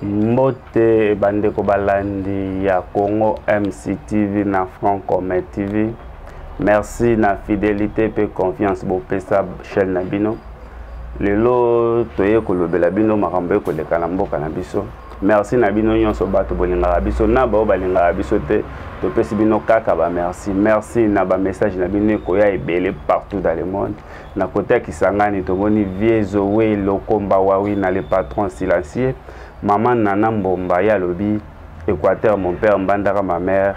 mbote bandeko balandi ya congo mctv na francome tv merci na fidelité mpe confiance bopesa chaîne na bino lelo toye kolobela bino makambo ekoleka na mboka na biso merci na bino nyonso bato bolingaka biso na baoyo balingaka biso te topesi bino kaka bamerci merci na bamessage na bino ekoya ebele partout dans le monde na kote ya kisangani tomoni vie zoe lokomba wawina le patron silencieux mama nana mbomba ye alobi équateur mon père mbandaka ma mère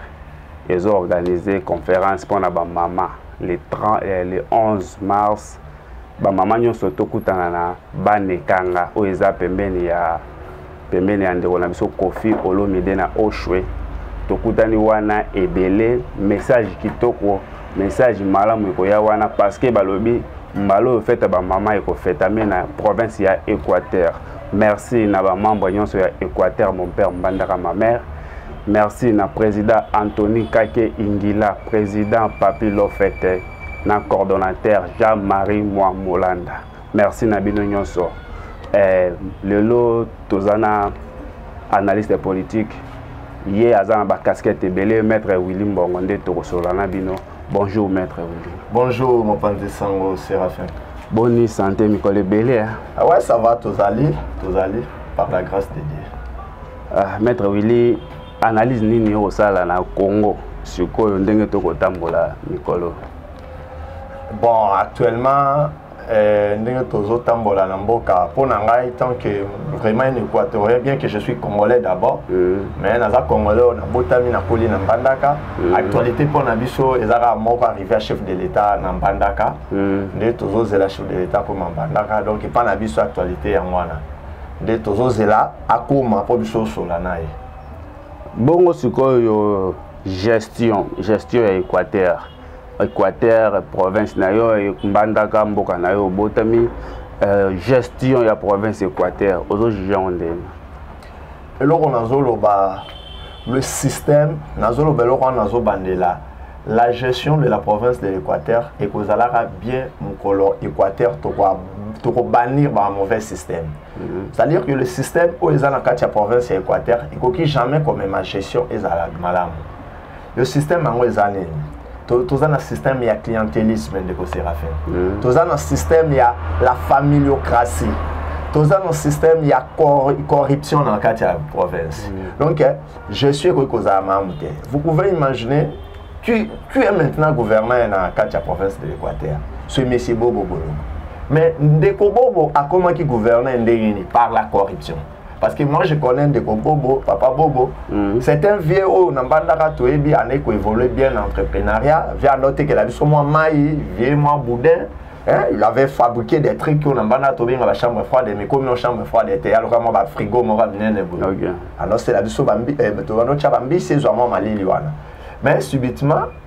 ezo organise conférence mpo na bamama le, 30, eh, le 11 mars bamama nyonso tokutana na banekanga oyo eza pembeni ya pembeni ya ndeko na biso kofi olomide na oshwe tokutani wana ebele message kitoko message malamu ekoya wana parceke balobi mbala oyo fete ya bamama ekofetame na province ya équateur merci na bamembre nyonso ya équateur mon père mbandaka ma mère merci na président antony kake ingila président papi lofete na coordonnateur jean marie mwa molanda merci na bino nyonso eh, lelo toza na analyste politique ye aza na bacasquette ebele maître willi mbongo nde tokosolola na bino bonjour maître willi bonjour mopanzi sango séraphin boni santé mikolo ebele hein? ah ouais ça va tozali tozali par la grâce de dieu ah, maître willi analyse nini yo kosala na congo sikoyo ndenge tokotambola mikolo bon actuellement Euh, ndenge tozotambola na mboka mpo na ngai tant que vraiment un équatorien bien que je suis congolais d'abord mm. mais naza congolais oyo nabotami nakoli na mbandaka mm. actualité mpo na biso eza kaka moko arrivé à chef de l'état na mbandaka mm. nde tozozela chef de l'état akoma mbandaka donc epa na biso actualité yango wana nde tozozela akoma mpo biso osola na ye bongo sikoyo gestion gestion ya équateur Equateur province na yo mbandaka mboka na yo obotami euh, gestion ya province Equateur ozo juge yango ndenge eloko nazoloba le système nazoloba eloko wana nazobandela la gestion de la province de l'équateur ekozalaka bien mokolo équateur tokobanir ba mauvais système mhm. c'est à dire que le système oyo eza na kati ya province ya équateur ekoki jamais komema gestion ezala malamu yo système yango eza nini toza na système ya clientelisme ndeko séraphin mm. toza na système ya la familiocratie toza na système ya corruption na kati ya province mm. donc eh, je suis ekoki kozala malamu te vous pouvez imaginer qui, qui est maintenant gouverneur na kati ya province de l'équateur ce monsieur bobo bolongo mais ndeko bobo akomaki gouverneur ndenge nini par la corruption parce que moi je connais ndeko bobo papa bobo mm. c'est un vieux oyo na mbandaka toyebi andai koévolue bien na entreprenariat vie ando otekela biso mwa mai vieux mwa boudin Hein, il avait fabriqué des trucs qu'on a bana tobi dans la chambre froide mais comme nos chambre froide était alors comment ba frigo mo ba minene bo. Alors c'est la biso bambi eh, to no cha bambi c'est vraiment malili wana. Mais subitement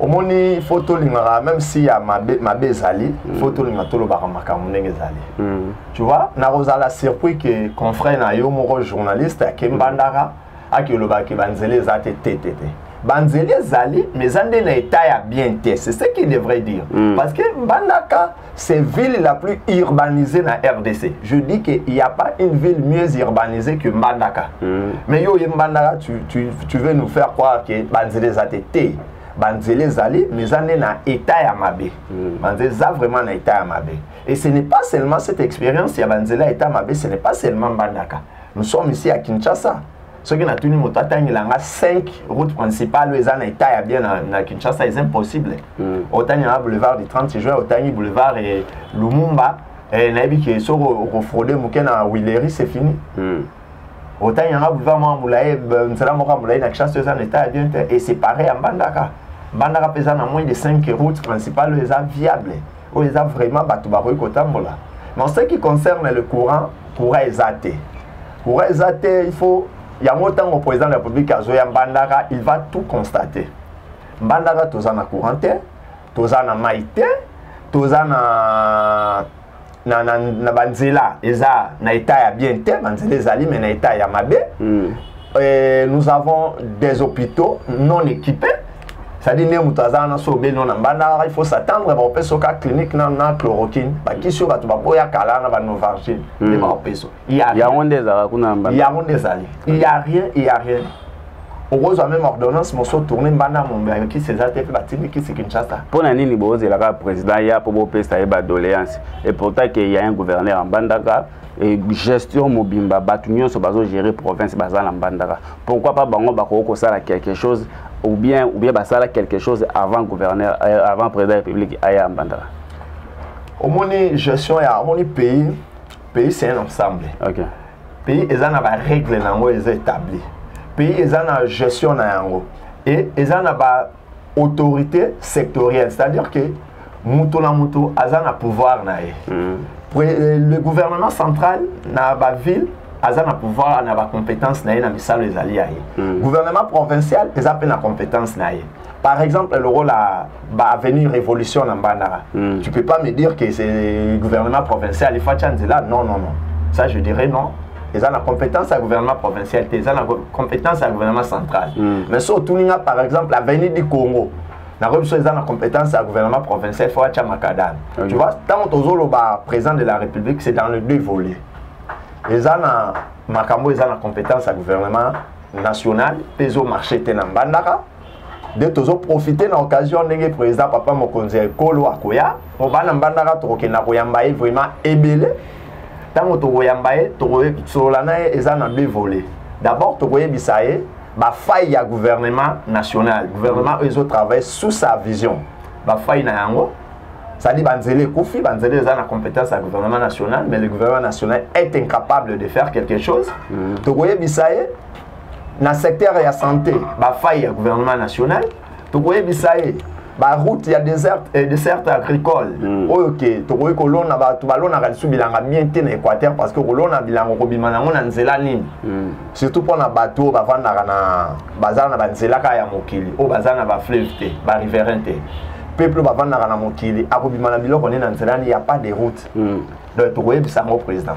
omoni fo tolingaka même si ya mabe, mabe ezali mm. fo tolinga tolobaka makambo ndenge ezali mm. tu vois nakozala surpris ke confrère na yo moko journaliste ake mm. mbandaka ake olobaka ke banzela eza te te te te banzela ezali mais eza nde na etat ya bien te c'est ce qu'il devrait dire mm. parce que mbandaka C'est ville la plus urbanisée na RDC. Je dis qu'il n'y a pas une ville mieux urbanisée que Mbandaka. Mm. Mais yo, Mbandaka, tu, tu, tu veux nous faire croire que Banzele Zateté, Banzele Zali, mais on est dans l'état ya Mabé. Mm. Banzele Za vraiment dans l'état ya Mabé. Et ce n'est pas seulement cette expérience, il y a Banzele état Mabé, ce n'est pas seulement Mbandaka. Nous sommes ici à Kinshasa. soki natuni moto atangela nga 5 route principale oyo eza na etat ya bien na, na kinshasa eza impossible mm. otangi na boulevard du 30 juin otangi boulevard e lumumba e, nayebi ke soki okofraude moke na willery c'est fini mm. otangi yanga boulevard moko molaye nzela moko ya molaye na kinshasa eza na etat ya bien te e séparé ya mbandaka mbandaka mpe eza na moins de 5 route principale oyo eza viable oyo eza vraiment bato bakoki kotambola mais ce qui concerne le courant courant eza te courant eza te il faut yango ntango président de la république azoya mbandaka il va tout constater mbandaka toza na courant te toza na mai te toza na na, na, na banzela eza na etat ya bien te banzela ezali mais na etat ya mabe mm. Et nous avons des hôpitaux non équipés sadi nde moto aza wana so obeli no na mbandaka il faut s'attendre bakopesa oka clinique na, na chloroquine bakisi oyo bato baboya kala na banovargine nde hmm. bakopesa yango nde ezalaka kuna na mbandaka yango nde ezali il y a rien il y a rien okozwa meme ordonnance mosusu tourne mbanda mombe ya kisi eza te mpe batindi kisi kinshasa mpo na nini bozela kaka président ya mpo bopesa ye badoléance et pourtant ke ya un gouverneur ya mbandaka gestion mobimba bato nyonso bazogere province baza na mbandaka pourquoi pas bango bakoki kosala quelque chose ou bien ou bien basala quelque chose avant gouverneur euh, avant président ya république aya mbandaka omoni gestion ya omoni pays pays c'est un ensemble okay. pays eza na barègle na yango eza établi pays eza na gestion na yango e eza na ba autorité sectorielle c'est à dire que moto na moto aza na pouvoir na ye mm. euh, le gouvernement central na baville aza na pouvoir na bacompétence na ye na misala ezali ya ye mm. gouvernement provincial eza mpe na compétence na ye par exemple lokola baavenue révolution na mbandaka mm. tu peux pas me dire que c'est gouvernement provincial efatya nzela non non non ça je dirais non eza na compétence ya gouvernement provincial te eza na compétence ya gouvernement central mm. mais so otuni nga par exemple avenue du congo nakoyebi so eza na compétence ya gouvernement provincial fo atya makadame okay. tu vois ntango tozoloba président de la république c'est dans le deux volet eza na makambo eza na compétence ya gouvernement national mpe ezomarche te na mbandaka nde tozoprofite na occasion ndenge président papa mokonzi ya ekolo akoya po bana mbandaka tokokenda koyamba ye vraiment ebele ntango tokoyamba ye tokosolola na ye eza na deux volet d'abord tokoyebisa ye bafaille ya gouvernement national gouvernement oyo ezotravaille sous sa vision bafaille na yango c'est-à-dire banzela ekufi banzela eza na compétence ya gouvernement national mais le gouvernement national est incapable de faire quelque chose mm. tokoyebisa ye na secteur ya santé bafaille ya gouvernement national tokoyebisa ye baroute ya desert, eh, desert agricole mm. oyo ke tokoki kolona bato balonaka lisu bilanga bien te na équateur parce que kolona bilanga okobima nango na nzela nini mm. surtout mpo na bato oyo bavandaka na bazala na banzela kaka ya mokili oyo bazala na bafleuve te bariverain te peuple bavandaka na mokili akobima na biloko nini na nzela nini ya pas de route mm. donc tokoyebisa yango président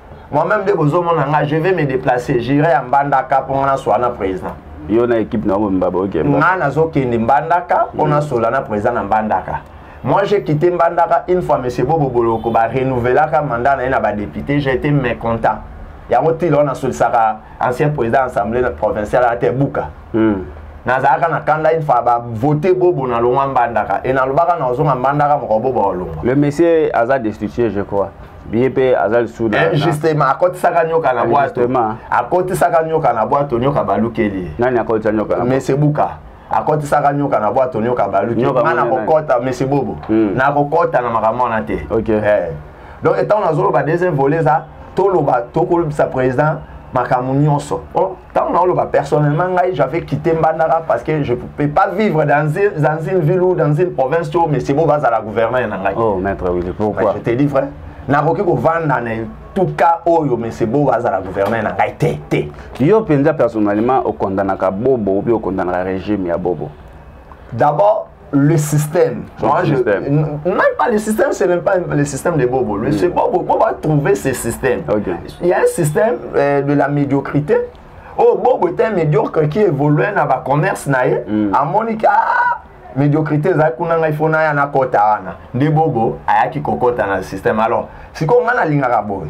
Moi-même, dès que je suis je vais me déplacer. J'irai à Mbandaka pour mon soir président. yo na équipe na bomba boke nga nazokende mbandaka mpo nasola na président na mbandaka moi j'ai quitté mbandaka une fois monsieur bobo boloko barenouvelaka mandat na ye na badepute j'ai été mécontent yango ti lelo nasolisaka ancien président assemblée provinciale ata ebuka hmm. nazalaka na kanda une fois bavote bobo na longwa mbandaka e nalobaka na ozonga mbandaka moko bobo olongwa le monsieur aza destitué je crois ye mpe aza lisusu na eh, justement akotisaka nyoka na bwato akotisaka nyoka na bwato nyoka balukeli ye nani akotisa nyoka na mese buka akotisaka nyoka na bwato nyoka baluki nga nakokɔta mese bobo hmm. nakokɔta na makambo wana te eh. donc etango nazoloba deuxième volet eza toloba tokolobisa président makambo nyonso oh. ntango naoloba personnellement ngai j'avais quitté mbandaka parce que je peux pas vivre dans, dans une ville ou dans une province to monsieur bo bazala gouverneur na ngai oh maître Willy pourquoi je te dis vrai nakoki kovanda na etuka oyo monsieur bo azala gouverneur na ngai te te yo mpenza personnellement okondanaka bobo obi okondanaka régime ya bobo d'abord le système. Son Moi, système. Je, même pas le système, c'est même pas le système de Bobo. Le, mm. Bobo, Bobo a trouvé ce système. Okay. Il y a un système euh, de la médiocrité. Oh, Bobo était un médiocre qui évoluait dans le commerce. Naïe. Mm. À Monica, ah, médiocrité eza kuna ngai fona ya nakota wana nde bobo ayaki kokota na système alors sikoyo ngai nalingaka boye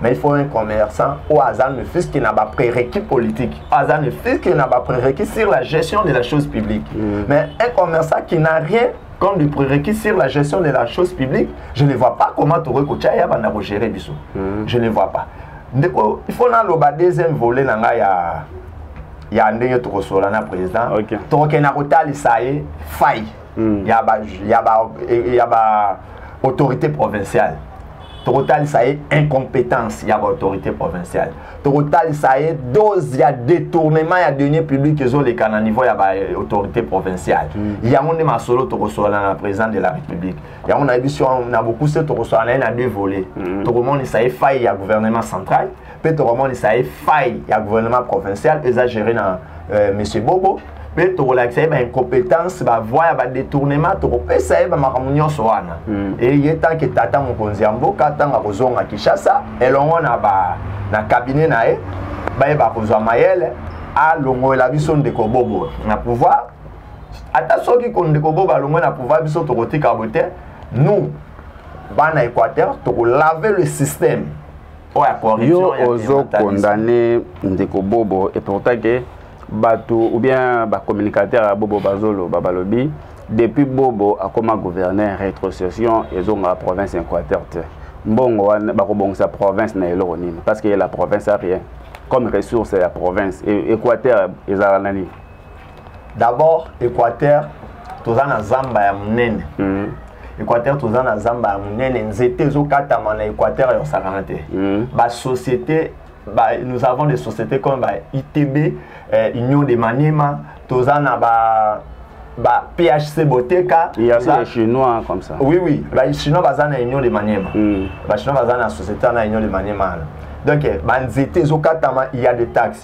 mais il faut un commerçant ou aza ne fils que na ba prérequis politique aza ne fils que na ba prérequis sur la gestion de la chose publique mm. mais un commerçant qui n'a rien comme du prérequis sur la gestion de la chose publique je ne vois pas comment tokoki kotya ya banda kogere biso mm. je ne vois pas ndeko il faut naloba deuxième volet na ngai ya ya ndenge tokosola na président okay. tokokende na kotalisa ye faille mm. ya ba, ya ba, ya ba autorité provinciale tokotalisa ye incompétence ya baautorité provinciale tokotalisa ye dose ya détournement ya denier public ezoleka na niveau ya baautorité provinciale mm. yango nde masolo tokosolana na président de la république yango nayebi si na bokuse tokosolana ye na deux volets mm. tokomonisa ye faille ya gouvernement central mpe tokomonisa ye faille ya gouvernement provincial eza géré na euh, monsieur bobo mpe tokolakisa ye baincompétence bavoi ya badetournement tokopesa ye bamakambo nyonso wana hmm. eye tanke tata mokonzi ya mboka ntango akozonga kinshasa elongo na ba na kabine na ye bayeba kozwa mayele alongolela biso ndeko bobo na pouvoir ata soki ko ndeko bobo alongwe na pouvoir biso tokotika bo te nous bana équateur tokolave le système yo ozo condamne ndeko bobo et pourtant ke bato ou bien bacommunicateur ya bobo bazoloba balobi depuis bobo akoma gouverneur rétrocession ezonga province ya équateur te mbongo wana bakobongisa province na eloko nini parce que la province a rien comme ressource ya province équateur ezala na nini d'abord équateur toza na zamba ya monene mm. équateur toza na zamba ya monene nzete ezokatama na équateur ya osakana te mm. basociété ba, nous avons des sociétés comme ba itb eh, union de manema toza na ba ba PHC Boteka il y a des chinois comme ça oui oui ba chinois baza na union de manema mm. ba chinois baza na société na union de manema donc eh, ba nzete ezokatama il y a des taxes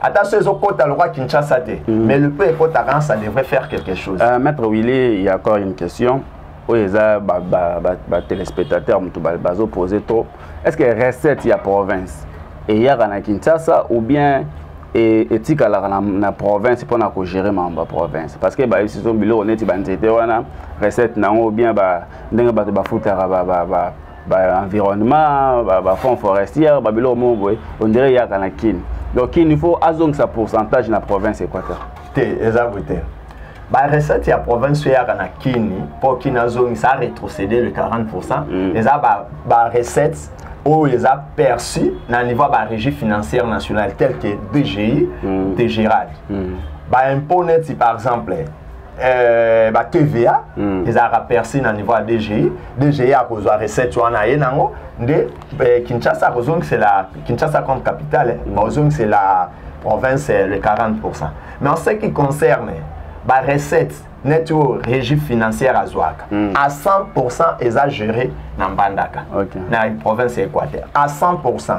ata so ezokota lokola kinshasa te mm. mais le peu ekotaka ça devrait faire quelque chose euh, maître willy il y a encore une question oyo eza batelespectateur moto bazopose trop est ce que recette ya province eyaka na kinshasa ou bien etikalaka na, na province mpo na kogere mambo ya province parce que bayebisi biso biloko neti banzete wana recette na yango ou bien ndenge bato bafutaka ba, ba, ba, ba environnement ba, ba fonds forestière ba biloko moko boye on dirait yaka na kin donc kin il faut azongisa pourcentage na province équateur te eza boye te ba recette ya province oyo eyaka na kini mpo kini azongisa aretrocéder le 40 pourcent mm. eza ba, ba recette oyo eza perçu na niveau ya ba régie financière nationale tel que dgi mm. dgrad mm. baimpôt neti par exemple Euh, ba TVA mm. ezalaka percé na niveau ya DGI DGI akozwa recette wana ye nango nde eh, Kinshasa akozongisela Kinshasa comme capitale eh, mm. bakozongisela province eh, le 40% mais en ce qui concerne ba recette net oyo régie financière azwaka mm. à 100% eza géré na Mbandaka okay. na province ya Équateur à 100%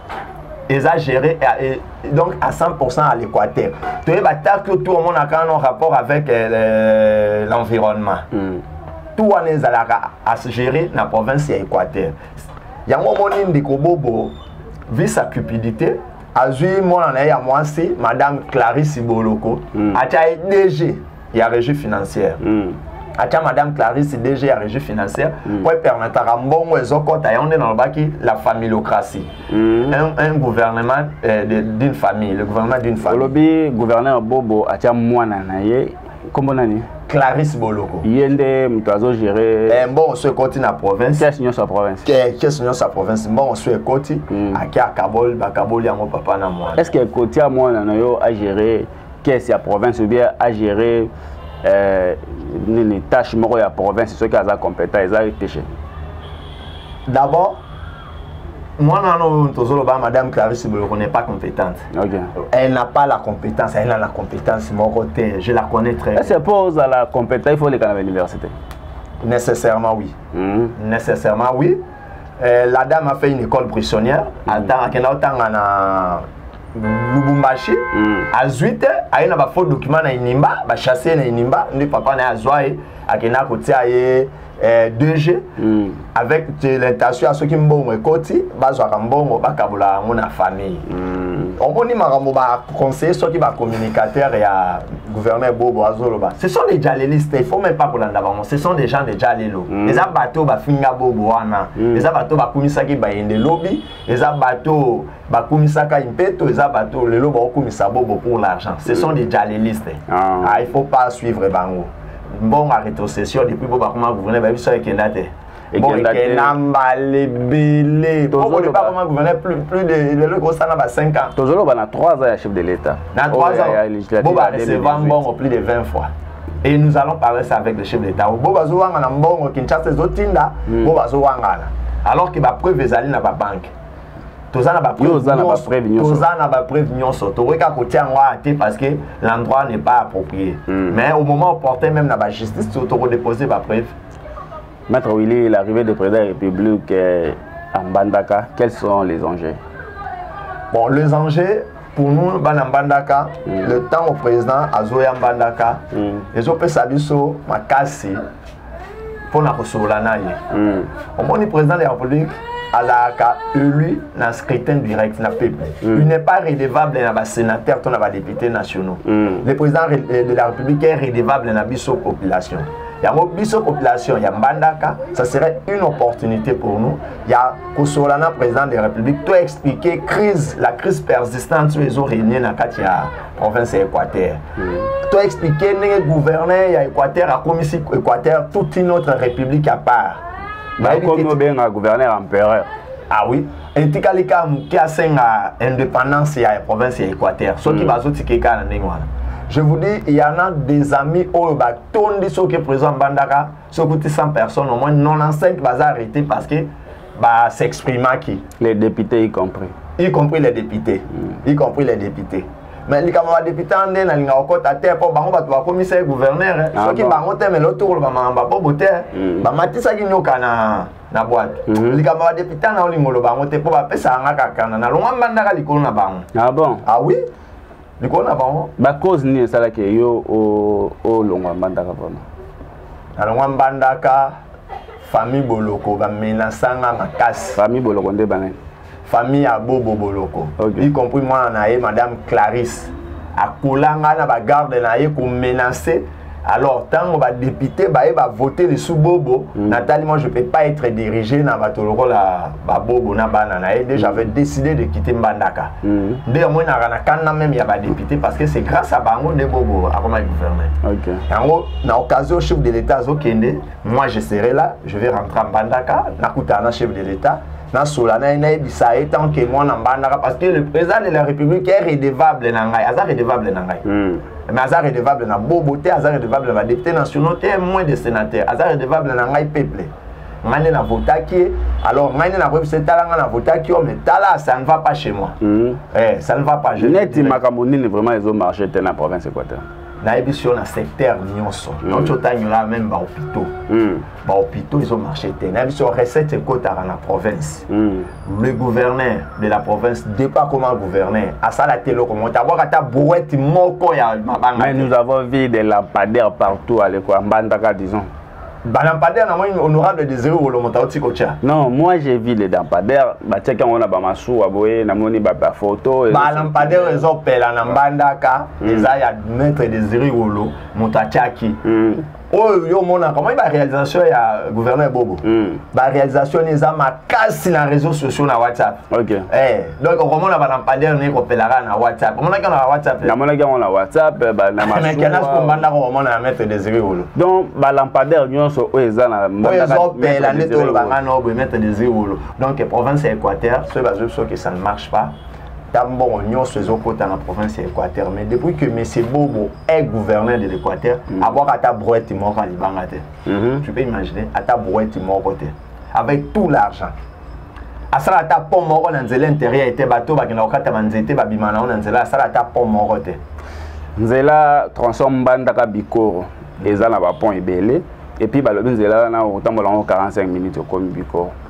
eza géré euh, donc à 100% à l'équateur toyeba ta que tout omonaka no rapport avec euh, l'environnement mm. tout wana ezalaka à se gérer na province ya équateur yango omoni ndeko bobo vi sa cupidité azwi mwana na ye ya mwasi madame clarisse boloko mm. atya ye dg ya régie financière mm. atya madame clarisse dg ya régie financière mm. mpo mm. epermetaka mbongo ezokɔta yango nde nalobaki la famillocratie mm. un, un gouvernement euh, d'une famille le gouvernement d'une famille olobi gouverneur bobo atya mwana na ye nkombo nani clarisse boloko ye nde moto azogere eh, mbongo so ekoti na province kese nyonso ya province kese nyonso ya province mbongo so ekoti mm. ake akaboli bakaboli yango papa na mwana est ce que ekotia mwana na yo agere caisse ya province ou bien a gérer euh, nini tâche moko ya province soki aza compétent eza péché d'abord mwana wana oyo tozoloba madame clarisse boloko n'est pas compétente okay. elle n'a pas la compétence elle a la compétence moko te je la connais très bien c'est pour ozala compétent il faut olekana na université nécessairement oui mm -hmm. nécessairement oui euh, la dame a fait une école prisonnière mm -hmm. atanga akenda otanga na lubumbashi mm. azwi te aye na bafaux document na inimba bachasse ye na inimba nde papa na ye azwa ye akenda kotia ye eh, 2g mm. avec l'intention ya soki mbongo ekoti bazwaka mbongo bakabola yango na famille mm. omoni makambo baconseille soki bacommunicateur ya gouverneur bobo azoloba ce sont des jalelistes il faut même pas kolanda bango ce sont des gens de jalelo mm. eza bato bafinga bobo wana mm. eza bato bakumisaki bayende lobi eza bato bakumisaka impeto eza bato lelo baokumisa bobo pour l'argent ce sont des jalelistes ah. ah, il faut pas suivre bango mbongo ya rétrocession depuis bo bakoma gouverne bayebi so ekenda te ekenda mbala ebele okoleba koma gouverne plus de lelo ekosala ba 5 ans tozoloba na 3 ans ya chef de l'état na 3 ans bo bareceva mbongo plus de 20 fois et nous allons parler ça avec le chef de l'état bo bazowangana mbongo kinshasa ezotinda hmm. bo bazowangana alors que bapreuve ezali na babanke toza na bapreuve na bapreuve nyonso tokoki kaka kotia yango awa te parce que l'endroit n'est pas approprié mm. mais au moment opportun même na bajustice tokodépose bapreuve maître willy l'arrivée de président ya république eh, à mbandaka quels sont les enjeux bon les enjeux pour nous bana mbandaka mm. le temps au président azoya mbandaka mm. ezopesa biso makasi mpo na kosolola na ye mm. omoni président de la république azalaka élu na scrutin direct na peuple mm. il n'est pas redevable na basénateur to na badéputé nationaux mm. le président euh, de la république est redevable na biso population yango biso population ya mbandaka ça serait une opportunité pour nous ya kosolola na président de la république to expliquer crise la crise persistante oyo ezo régne na kati ya province ya équateur mm. to expliquer ndenge gouverneur ya équateur akomisi équateur toute une autre république à part bakomi obenga gouverneur empereur ah oui etikali kaka moke asenga indépendance ya province ya équateur soki mm. bazotika ekaka na ndenge wana je vous dis il y en a des amis oyo batondi soki président mbandaka soki ti 100 personnes au moins 95 baza arrêté parce que ba s'exprimaki les députés y compris y compris les députés mm. y compris les députés mais likambo ya badepute wana nde nalinga kokɔta te mpo bango bato bakomisa ye guverner eh. ah soki bango te mele otokoloba makambo ya bobo te mm. bamatisaki nyoka na na bwatu mm-hmm. likambo ya badepute wana olinga oloba yango te mpo bapesaka nga kakana nalongwa mbandaka likolo na bango ah bon ah oui likolo na bango bacause nini esalaki yo olongwa mbandaka vraimen nalongwa mbandaka famille boloko bamenasanga makasi famille boloko nde banani famille ya bobo boloko okay. y compris mwana na ye madame clarisse akolanga na bagarde na ye komenace alors ntango badepute baye bavote lisu bobo mm. natali moi je peux pas être dirigé na bato lokola babobo na bana na ye nde mm. j'avais décidé de quitter mbandaka mm. nde mm. omonaka na kanda meme ya badepute parce que c'est grâce à bango nde bobo akomaki gouverneur okay. yango na occasion chef de l'état azokende moi je serai là je vais rentrer à mbandaka nakutana na chef de l'état nasola na ye nayebisa ye tant que mwana mbandaka parce que le président de la république est redevable na ngai aza redevable na ngai mm. mais aza redevable na bobo te aza redevable na badepute nationaux te moins de sénateur aza redevable na ngai peuple ngai nde navotaki ye alors ngai nde nakoyebisa ye tala ngai navotaki yo mais tala ça ne va pas chez moi mm. eh, ça ne va pas neti makambo nini vraiment ezo marché te na province équateur nayebisi yo na secteur nyonso mm. donc otanyola meme bahopitaux mm. ba hôpitaux ils ont marché te na biso recette ekotaka na province mm. le gouverneur de la province depa comment gouverneur asala te eloko moto abwaka ata brouette moko ya mabanga mais nous avons vu des lampadaires partout aleko ya mbandaka disons balampadaire na moi honorable désiré wolo moto auti kotya non moi j'ai vu les lampadaire batiaki yango na bamasuwa boye namoni bafoto balampadaire ezopela na mbandaka hmm. eza ya maître désiré wolo moto atyaki hmm. oyo yo omonaka omoni baréalisation ya gouverneur bobo mm. baréalisation ni eza makasi na réseau sociaux na whatsapp okay. eh, donc okomona balampadaire ni ekopelaka na whatsapp omonaki yango na whatsapp namonaki yango na whatsapp nakenas kombandaka omona ya maître désiré wolo donc balampadaire nyonso oyo eza na oyo ezopela nde tolobanga na oboye maître désiré wolo donc province ya équateur soki bazwi biso ke ça ne marche pas ta mbongo nyonso ezokota na province ya équateur mais depuis que monsieur bobo est gouverneur de l'équateur mm -hmm. abwaka ata brouette moko ya libanga te mm -hmm. tu peux imaginer ata brouette moko te avec tout l'argent asala ata pont moko na nzela intérieure te bato bakenda kokata banzete babima na yango na nzela asala ata pont moko te nzela tronçon mbandaka bikoro eza na bapont ebele epuis balobi nzela wana okotambola yango 45 minutes okomi bikoro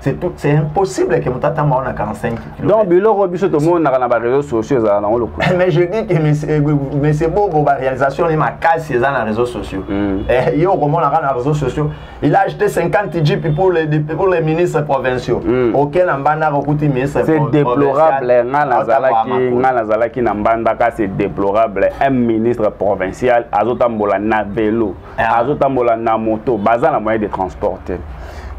c'est tout c'est impossible que mutata mao na 45 kg donc biloko biso to mona na ba réseaux sociaux ezala na ngolo eh, mais je dis que monsieur eh, monsieur bobo ba réalisation ni makasi eza na réseaux sociaux mm. eh yo ko mona na réseaux sociaux il a acheté 50 jeep pour les pour les ministres provinciaux mm. aucun na mbanda ko kuti ministre c'est déplorable nga na zalaki nga na zalaki na mbanda ka c'est déplorable un ministre provincial azotambola na vélo ah. azotambola na moto baza na moyen de transport te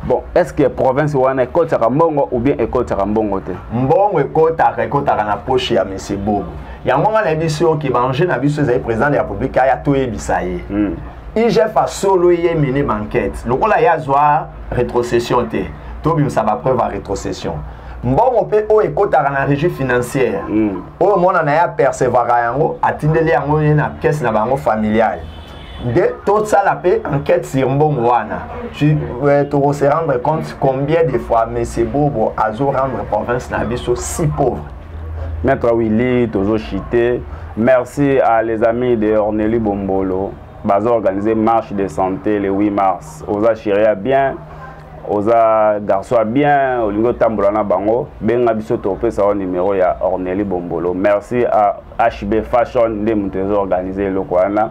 bon est ce que province wana ekotaka mbongo ou bien ekotaka mbongo te mbongo ekotaka ekotaka na poche ya monsieur bobo yango nga nayebi biso oke baenjeu na biso ezali président de la république aya toyebisa ye hmm. igf asolo ye mene banquete lokola ye azwa rétrocession te tobimisa bapreuve ya rétrocession mbongo mpe oyo ekotaka na régie financière hmm. oyo mwana na ye apercevaka yango atindeli yango ye na kese na bango familiale nde tosala mpe enquête sur mbongo wana euh, tokose rendre compte combien de fois monsieur bobo azo rendre province na biso si pauvre maître willy tozo chite merci à les amis de orneli bombolo bazo organise marche de santé le 8 mars oza chiria bien oza garçon ya bien olingi otambola na bango benga biso topesa yo numero ya orneli bombolo merci à hb fashion nde moto ezo organise eloko wana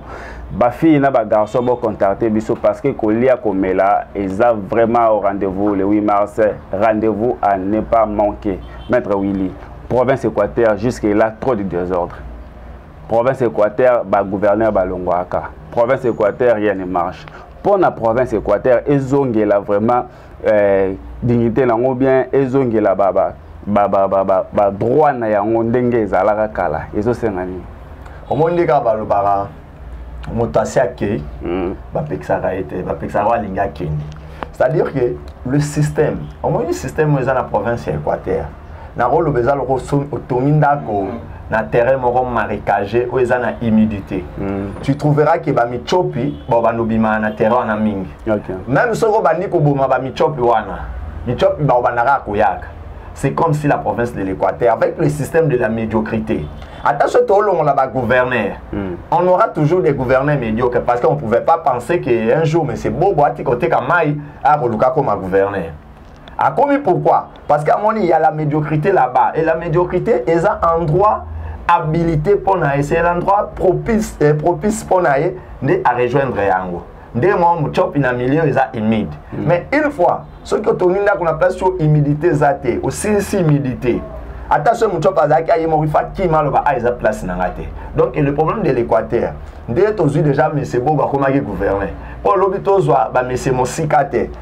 bafille na bagarçon bocontacte biso parce que kolia komela eza vraiment au rendez-vous le 8 mars rendez-vous à ne pas manquer maître willy province équateur jusque là trop de désordre province équateur bagouverneur balongwaka province équateur rien ne marche mpo na province équateur ezongela vraiment eh, dignité nango bien ezongela baba badroit na yango ndenge ezalaka kala ezosenga nini omoni nde kaka balobaka moto asi akei hmm. bapekisaka ye te bapekisaka oyo alingi akende c'est-à-dire que le système omoni système oyo eza na province ya équateur nakoloba eza loko otongi ndako na terrain moko marécage oyo eza na humidité mm. tu trouveras ke bamicopi bao bandobimaka na terrain wana mingi okay. meme soki obandi koboma bamicopi wana micopi bao bandaka ya koyaka c'est comme si la province de l'équateur avec le système de la médiocrité ata soki toolongola bagouverneur mm. on aura toujours des gouverneurs médiocres parce qu'on pouvait pas penser qu'un jour monsieur bobo atika oteka mai akoluka akoma gouverneur akomi pourquoi parce que amoni ya la médiocrité là-bas et la médiocrité eza endroit habilité mpo na ye c'est l'endroit propice, eh, propice mpo na ye nde arejoindre yango nde mwa mocopi na milieu eza humide mm. mais une fois soki otongi ndako na place oyo humidité eza te osilisi humidité ata soki mocopi azalaki aye moko ifa kima aloba a ah, eza place na ngai te donc le problème de l'équateur nde tozwi déjà mese bogo akomaki gouverne mpo lobi tozwa bamese mosika te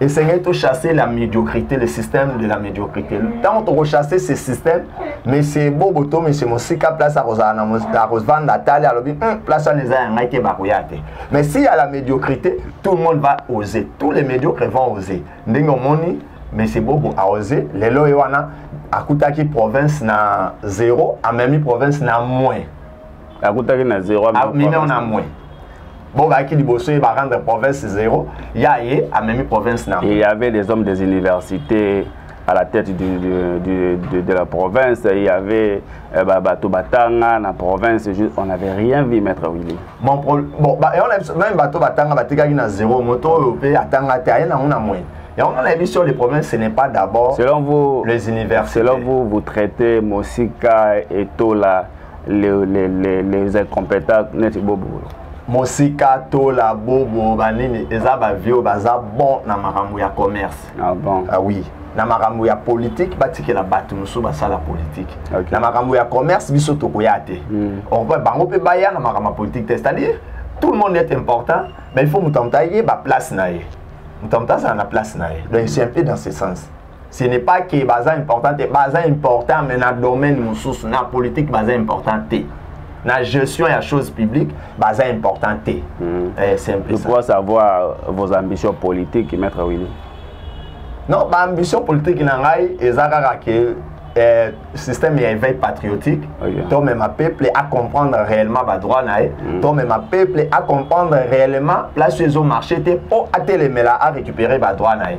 esengeli to chasser la médiocrité le système de la médiocrité ntango tokochasser ce système monsieur bobo to monsieur mosika place akozala na akovanda atali alobi hum, place wana eza ya ngai te bakoya te mais si ya la médiocrité tout le monde va oser tous les médiocres vont oser ndenge omoni monsieur bobo aose lelo ye wana akutaki province na zéro amemi province na moins akutaki na zero amemi yango na mwe bobaki liboso ye barendre province zero ya ye amemi province na il y avait des hommes des universités à la tête du, du, du, de, de la province il y avait euh, bah, bato batanga na province juste, on n'avait rien vu maître willy bon, pro, bon bah, et on a, même bato batanga batikaki na zero moto oyo mpe atanga te aye nango na moyen Et on a vu sur les problèmes, ce n'est pas d'abord les universités. Selon vous, vous traitez Mosika et Tola les, les, les, les incompétents neti bobolo mosika tola bobo banini eza bavie oyo baza bon na makambo ya commerce ah, bon. ah, oui na makambo ya politike batikela bato mosusu basala politike okay. na makambo ya commerce biso tokoya te mm. or bango mpe baya na makambo ya politike te c'est-à-dire tout le monde est important mais il faut moto ya moto ayeba place na ye moto ya moto azala na place na ye donc c'est un peu dans ce sens ce n'est pas que baza important te baza important mais na domaine mosusu na politique baza important te na gestion ya chose publique baza important te mm. eh, c'est un peu ça. savoir vos ambitions politiques maître Willy non baambition politique na ngai eza kaka ke eh, système ya éveil patriotique okay. Ah, tomema peuple à comprendre réellement badroit na ye mm. tomema peuple à comprendre réellement place oyo ezomarche te mpo atelemela à récupérer badroit na ye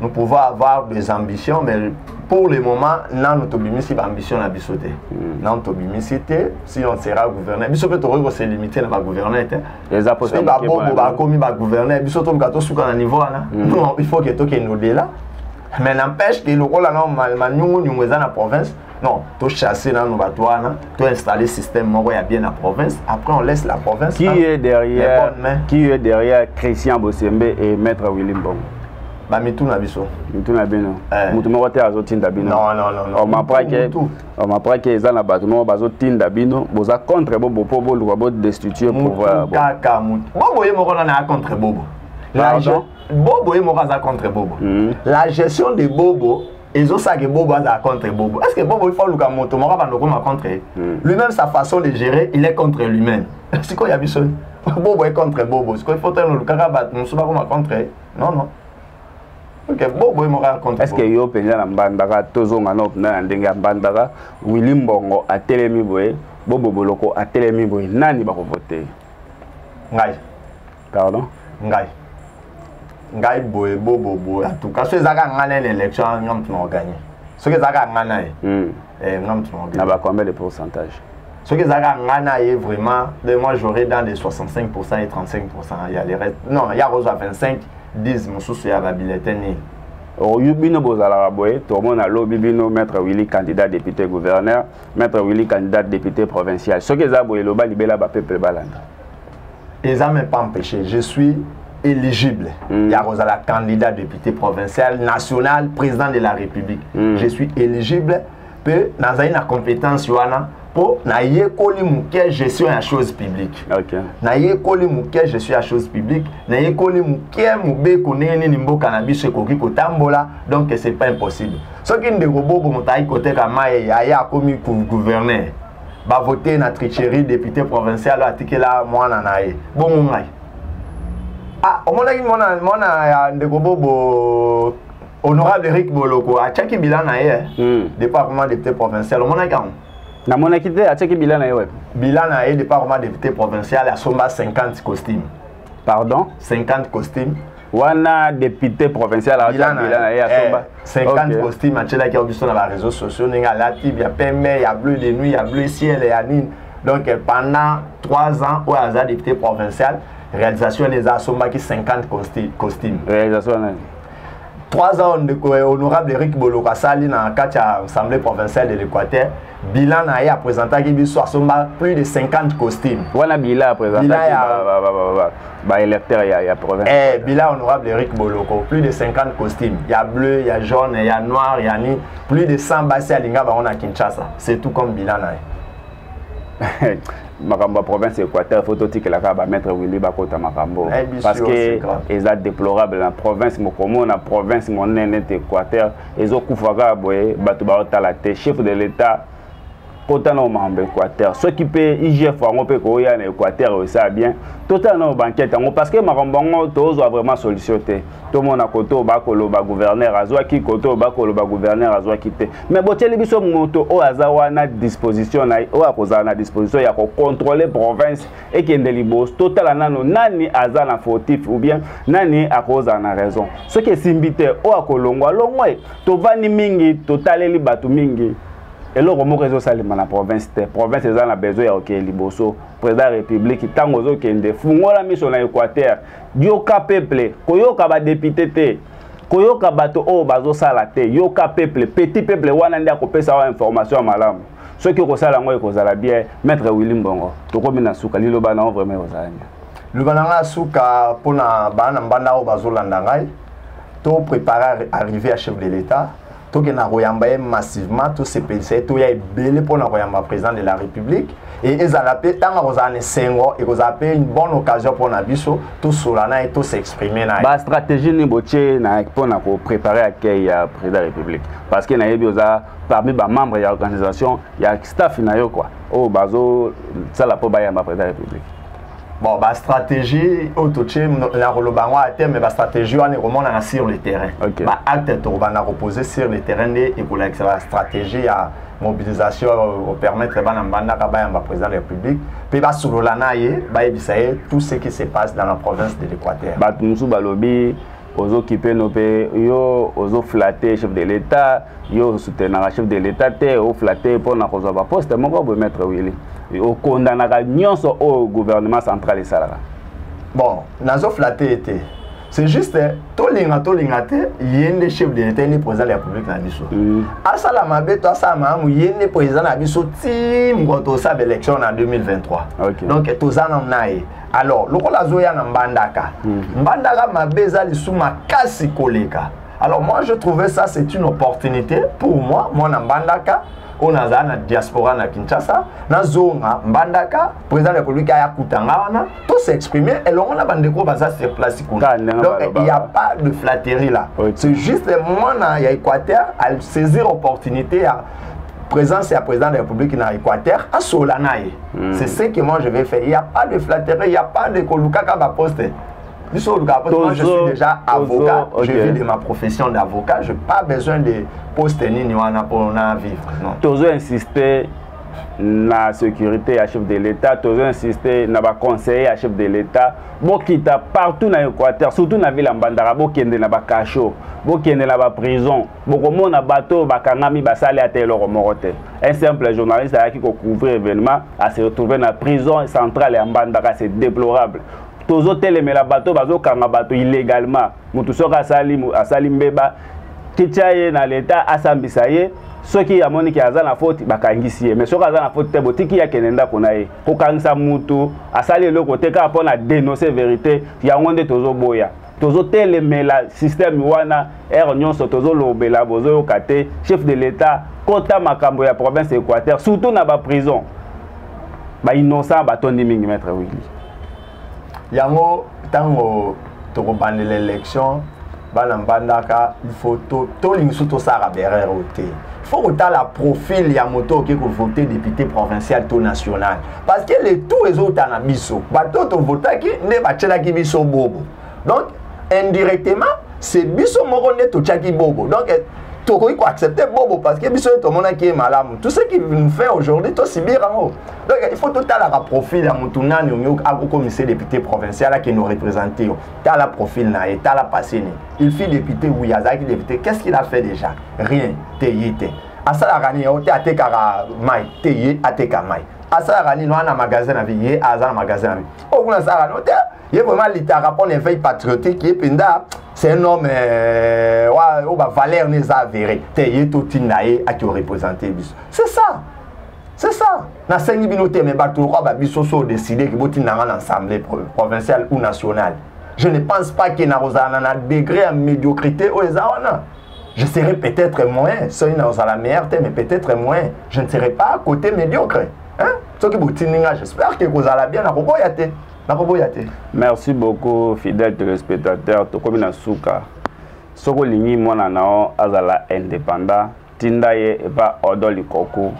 nous pouvons avoir des ambitions mais pour le moment nanu tobimisi baambition na biso te hmm. nanu tobimisi te si on sera gouverneur biso mpe tokoki koselimite na bagouverneur te soki babobo bakomi bagouverneur biso toluka tosuka na niveau wana hmm. non il faut ke tokende odela mais n'empêche ke lokola na maniungunyungu eza na province non to chasser nanu bato wana to installer système moko ya bien na province après on laisse la province qui est derrière qui est derrière Christian Bosembe et maître Willy Mbongo bamitu na biso mitu na bino eh. motu moko te azotinda binoomapake oh, eza na bato moko bazotinda bino boza contre bobo mpo boluka bodestitue pouvoirkaka bobo ye moko nana ya contre bobo bobo ye moko aza contre bobo hmm. la gestion de bobo ezo ça que Bobo aza contre Bobo. Est-ce que Bobo il faut luka moto moko bando koma contre hmm. lui-même sa façon de gérer, il est contre lui-même. Siko ya biso. Bobo est contre Bobo. Siko il faut tellement luka ba musuba koma contre. Non non. Ok, Bobo est mora contre. Est-ce que yo penza na mbandaka tozonga na opna na ndenge ya mbandaka Willy Mbongo atelemi boye, Bobo Boloko atelemi boye. Nani bako voter? Ngai. pardon ngai ngai boye bobo boye en tout cas so ezaka ngai na élection nga mutu na gagner soki ezaka ngai na ye hmm. eh nga mutu na gagner na ba combien de pourcentage soki ezalaka ngai na ye vraiment de moi j'aurai dans les 65 pourcent et 35 pourcent ya le reste non ya kozwa 25 10 mosusu ya babilete nini oyo oh, bino bozalaka boye tomona lobi bino maître willy candidat député gouverneur maître willy candidat député provincial soki eza boye loba libela bapeuple balanda eza me pas empêché je suis éligible mm. ya kozala candidat député provincial national président de la république mm. je suis éligible mpe nazali na compétence wana mpo nayekoli moke gestion ya chose publique okay. nayekoli moke gestion ya chose publique nayekoli moke mobeko ndenge nini mboka na biso ekoki kotambola donc c'est pas impossible soki ndeko bobo moto ayaki koteka mai aya akomi gouverneur bavote na tricherie député provincial oyo atikela mwana na ye bongo ngai ah, omonaki mwana, mwana ya ndeko bobo honorable eric boloko atiaki bila na ye eh. mm. depuis akoma député provincial omonaki yango namonaki te atiaki bila na ye wapi bila na ye depuis akoma député provincial asomba 50 costume pardon 50 costume wana député provincial abilana ye asomba 50 costume atyelaki yango biso na baréseau sociaux ndenge alati ya pembe ya bleu de nuit ya bleu ciel ya nini donc euh, pendant 3 ans oyo aza député provincial réalisation wana eza asombaki 50 costume réalisation wana 3 ans ndeko euh, honorable eric boloko asali na kati ya assemblée provinciale de l'équateur bilan na ye apresentaki biso asomba plus de 50 costume wana bila apresentaki baélecteur ya, ya province eh, bila honorable eric boloko plus de 50 costume ya bleu ya jaune ya noir ya ni plus de 100 basi alinga bango na kinshasa c'est tout comme bilan na ye makambo ya province ya équateur fo totikela kaka bamaître willi bakota makambo eh, parce que eza déplorable na province mokomona province monene te équateur ezokufa kaka boye bato baotala te chef de l'etat kota na mambo équateur soki mpe igf yango mpe koya na équateur oyo esala bien totala nao bankete yango parce que makambo yango tozwa vraiment solution te tomona kote oyo bakoloba gouverneur azwaki kote oyo bakoloba gouverneur azwaki te mais botyeli biso moto oyo aza wana disposition na ye oyo akozala na disposition ya kocontrole province ekende liboso totala nano nani aza na fautif ou bien nani akozala na raison soki esimbi te oyo akolongwa longwa ye tovandi mingi totaleli bato mingi eloko moko ezosalema na province te province eza na besoin ya kokende liboso président ya république ntango ozokende fungola miso na équateur yoka peuple koyoka badepute te koyoka bato oyo bazosala te yoka peuple petit peuple wana nde akopesa wa information ya malamu soki okosala yango ekozala bien maître willi mbongo tokomi na suka liloba na yo vraiment ekozala bien liloba na ngai ya suka mpo na bana mbanda oyo bazolanda ngai to préparer arrivé ya chef de l'état tokenda koyamba ye massivement tosepelisa ye toya ebele mpo na koyamba président de la république e ezala mpe ntango akozala na esengo ekozala mpe une bonne occasion mpo na biso tosola na ye tosexprime na ye bastratégie nini botie mpo na koprépare accueil ya président ya république parce que nayebi oza parmi ba membres ya organisation ya staff na yo quoi oyo bazo sala po bayamba président ya république bon ba stratégie oyo totie na koloba yango ate mais ba stratégie wana ekomonana sur le terrain okay. ba acte tokobanda kopose sur le terrain nde ekolakisa ba stratégie ya mobilisation opermettre bana mbandaka bayamba président de la république mpe basolola na ye bayebisa ye tout ce qui se passe dans la province de l'équateur bato mosusu balobi ozo kipe no mpe yo ozo flatte chef de l'état yo osoutenaka chef de l'état te oflatte mpo na kozwa baposte moko boye maître willi okondanaka nyonso oyo gouvernement central esalaka bon nazo flatte ye te c'est juste tolinga tolinga te ye nde chef de l'état ye nde président de la république na biso mm. asala mabe to asala malamu ye nde président na biso ti mokolo tosala baélection na 2023 donc toza nano na ye alors lokola azoya na mbandaka mm. mbandaka mabe eza lisu makasi koleka alors moi je trouvais ça c'est une opportunité pour moi mwana mbandaka oyo nazala na diaspora na kinshasa nazonga mbandaka président de république aya kuta nga wana to s'exprime elongo na bandeko oyo baza sur place kuna donc il y a pas de flatterie là c'est juste mwana ya équateur asaisir opportunité ya présence ya président de la république na équateur asola na ye mm. c'est ce que moi je vais faire il y a pas de flatterie il y a pas de kolukaka baposte biso olukaka poste moi je suis déjà avocat okay. je vis de ma profession d'avocat je pas besoin de poste nini wana mpona vivre non tozo insister na sécurité ya chef de l'état tozo insiste na baconseiller ya chef de l'état bokita partout na équateur surtout na ville ya mbandaka bokende na bacachot bokende na baprison bokomona bato oyo bakangami basali ata eloko moko te un simple journaliste ayaki kocouvrir événement ase retrouve na prison centrale ya mbandaka c'est déplorable tozotelemela bato bazokanga bato illégalement motu soki asali, asali mbeba kitya ye na leta asambisa ye soki amoni ke aza na foti bakangisi ye mais soki aza na foti te botiki ye akende ndako na ye kokangisa mutu asali eloko te kaka mpo na denonce verité yango nde tozoboya tozotelemela systeme wana ere nyonso tozolobela bozoyoka te chef de l'etat kota makambo ya province ya équateur surtout na baprison bainnocent batondi mingi maître willi yango ntango tokobandela élection bana mbandaka il faut tolingi so tosalaka berere oyo te faut kotala profil ya moto oke kovote député provincial to national parce que le tout ezouta na biso bato oyo tovotaki nde batyelaki biso bobo donc indirectement c'est biso moko nde totyaki bobo donc eh, tokoki koaccepte bobo parce que biso nde tomonaki ye malamu tout ce qui nous fait aujourd'hui tosibir yango donc il faut totalaka profil ya motu nani omi akokomisa député provincial akende orepresente yo tala profil na ye tala passé nini il fut député oui azalaki député qu'est ce qu'il a fait déjà rien te ye te asalaka nini yango te atekaka mai te ye ateka mai asalaka nini wana na magasin na vie ye aza na magasin na vie oyo kuna asalaka nini te ye vraiment alitaka mpo na éveil patriotique ye mpenza c'est un homme euh, oyo bavaleur ne eza avéré te ye totinda ye akeorepresente biso c'est ça c'est ça nasengi bino te mais bato lokola babiso so odeside ke botinda nga na assemblée provinciale ou nationale je ne pense pas ke nakozala na na degré ya médiocrité oyo eza wana je serai peut-être moins soki nakozala meilleur te mais peut-être moins je ne serai pas côté médiocre hein? soki botindi nga j'espère ke kozala bien nakoboya te nakoboya te merci beaucoup fidèle téléspectateur tokomi na suka soki olingi mwana na yo azala indépendant tinda ye epa odo likoku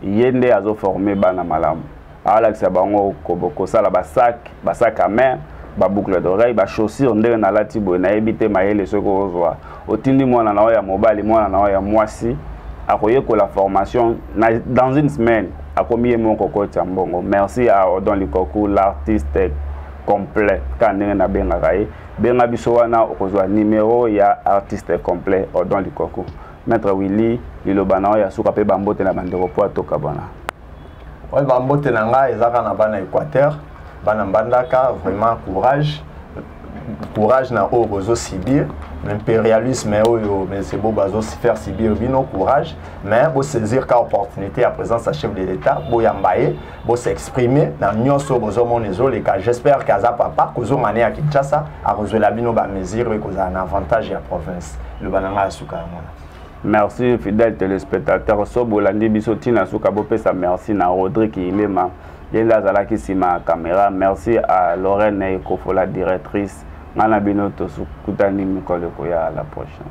ye nde azoforme bana malamu alakisa bango kosala basak basak à main baboucle d'oreille bachaussure ndenge nalati boye nayebi te mayele soki ozwa otindi mwana na yo ya mobali mwana na yo ya mwasi akoyekola formation na, dans une semaine akomi ye moko kotya mbongo merci à odon likoku l'artiste complet ka ndenge nabengaka ye benga biso wana okozwa numero ya artiste complet odon likoku maître willy liloba na yo ya suka mpe bambote na bandeko mpo atoka bona oyo bambote na ngai ezaka na bana équateur bana mbandaka vraiment courage courage na oyo bozo subir l'impérialisme oyo mese bo bazo faire subir bino courage mais bosaisir ka opportunité ya présence ya chef de l'état boyamba ye bo s'exprimer na nyonso bozomona ezoleka j'espère que aza papa kozonga ne ya kinshasa akozwela bino bamesure oyo ekozala na avantage ya province loba na ngai ya suka yango na merci fidèle téléspectateur so bolandi biso ntina suka bopesa merci na rodrik ilema ye nde azalaki nsima ya caméra merci à lorraine ekofola directrice ngai na bino tokutani mikolo ekoya la prochaine